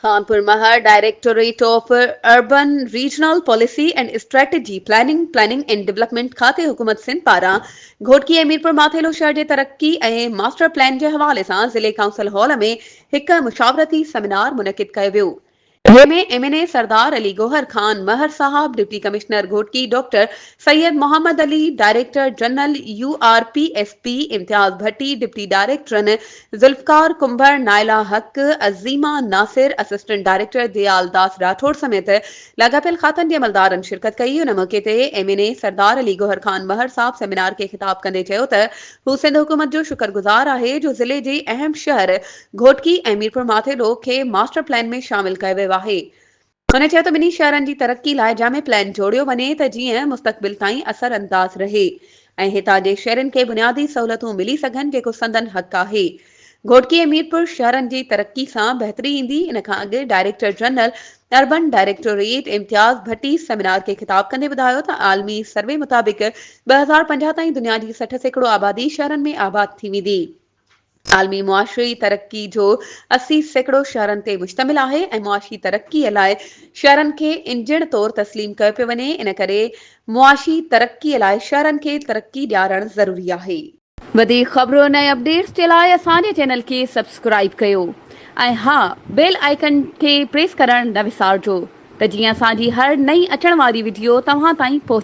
Khanpur Mahar directorate of urban regional policy and strategy planning planning and development کاتي حڪومت سنڌ پاران گهوٽڪي ۽ ميرپور ماٿيلو شهر جي ترقي ۽ ماسٽر پلان جي حوالي سان ضلعي ڪائونسل هال ۾ هڪ مشاورتي سيمينار منعقد ڪيو ويو جنهن ۾ M N A Sardar Ali Gohar Khan Mahar صاحب، deputy commissioner Ghotki doctor Syed Muhammad Ali, director general U R P S P Imtiaz Bhatti, deputy ڊائريڪٽرن ذوالفقار ڪنڀر، نائلا حق، عظيمه ناصر، اسسٽنٽ ڊائريڪٽر ديالداس راٺوڙ سميت لاڳاپيل کاتن جي عملدارن شرڪت ڪئي، ان موقعي تي M N A Sardar Ali Gohar Khan Mahar صاحب سيمينار کي خطاب ڪندي چيو ته هو سنڌ حڪومت جو شڪر گذار آهي جو ضلعي جي اهم شهر گهوٽڪي ۽ ميرپورماٿيلو کي ماسٽر پلان ۾ شامل ڪيو ويو آهي هن چيو ته ٻنهي شهرن جي ترقي لاء جامع پلان جوڙيو وڃي ته جيئن مستقبل تائين اثر انداز رهي ۽ هتان جي شهرين کي بنيادي سهولتون ملي سگهن جيڪو سندن حق آهي. گهوٽڪي ۽ ميرپور شهرن جي ترقي سان بهتري ايندي ان کان اڳ director general urban directorate Imtiaz Bhatti seminar کي خطاب ڪندي ٻڌايو ته عالمي سروي مطابق ٻه هزار پنجاهه تائين دنيا جي سٺ سيڪڙو آبادي شهرن ۾ آباد ٿي ويندي. عالمي معاشي ترقي جو اسي سيڪڙو شهرن تي مشتمل آهي ۽ معاشي ترقي لاء شهرن کي انجڻ طور تسليم ڪيو پيو وڃي ان ڪري معاشي ترقي لاء شهرن کي ترقي ڏيارڻ ضروري آهي. وڌيڪ خبرن ۽ اپڊيٽس جي لاء اسان جي چينل کي سبسڪرائيب ڪيو ۽ ها بيل آئيڪن کي پريس ڪرڻ نه وسارجو ته جيئن اسان جي هر نئين اچڻ واري وڊيو توهان تائين پهچي.